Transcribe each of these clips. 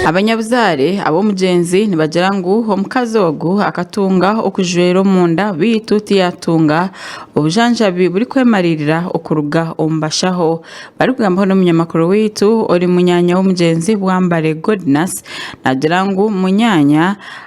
Abanyabuzaare ab'omugyenzi nibagira ngu omukazi ogu akatunga okujwera omunda beitu tiyatunga obujanjabi burikwemariirira okuruga omu bashaho barikugambaho n'omunyamakuru waitu ori munyaanya w'omugyenzi Bwambare Godness nagira ngu munyaanya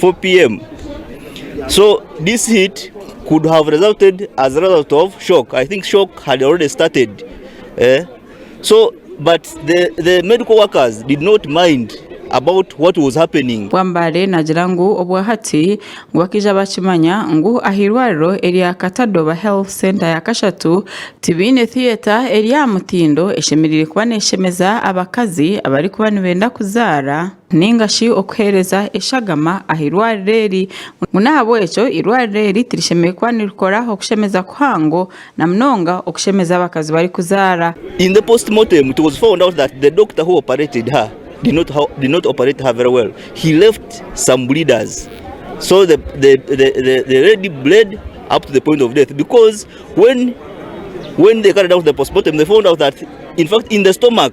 4pm so this heat could have resulted as a result of shock i think shock had already started eh so but the the medical workers did not mind about what was happening. Wambare nagira ngu obwa hati ngu bakija bakimanya ngu ahirwariro erya Katadoba Health Centre ya Kashatu tibaine theatre eri ahamutindo eshemerire kuba neshemeza abakazi abari kuba nibenda kuzara. nainga shi okuheereza eshagama aha irwariro eri, ngu n'ahabw'ekyo irwariro eri tirishemereire kuba nirikora okushemeza kuhango, na munonga okushemeza abakazi barikuzaara. In the post mortem it was found out that the doctor who operated her did not how did not operate her very well he left some bleeders so the the the the lady bled up to the point of death because when when they carried out the post mortem they found out that in fact in the stomach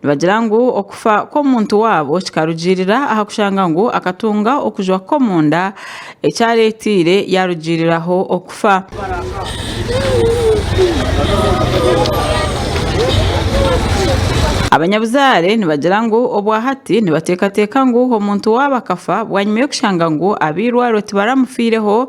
Nibagira ngu okufa kw'omuntu waabo kikarugiirira aha kushanga ngu akatunga okujwa kw'omunda ekyareeteire yaarugiiriraho okufa. Abanyabuzaare nibagira ngu obwahati nibateekateeka ngu omuntu waabo akafa bwanyima y'okushanga ngu ab'eirwariro tibaramufiireho,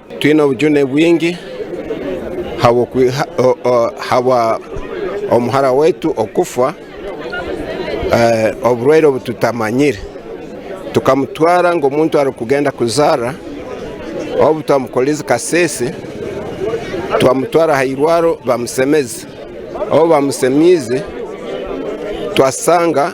Twine obujune bwingi habw'omuhara waitu kufa oburwaire obu tutamanyire. Tukamutwara ngu omuntu arikugenda kuzaara obu twamukorire kaseese twamutwara aha irwariro bamusemeze. Obu bamusemiize twasanga.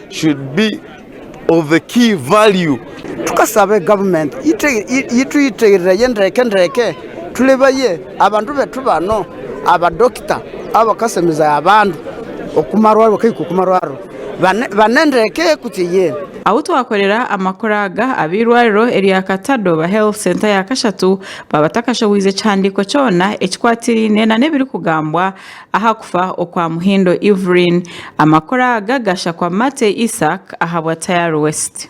Tukasabe government yitwitirire ndeke ndeke turebaye abantu betu bano aba doctor abakasemize abantu okumarwariro kehika okumarwariro bane ndeke kutsi ye. Ahu twakorera amakuru aga ab'eirwariro erya Katadooba Health Centre ya kashatu baabatakashoboize kihandiiko kyona ekikwatiraine nana ebirikugambwa Aha kufa okwa Muhindo Evelyn, amakuru aga gashakwa Matey Isaac ahabwa Tayari West.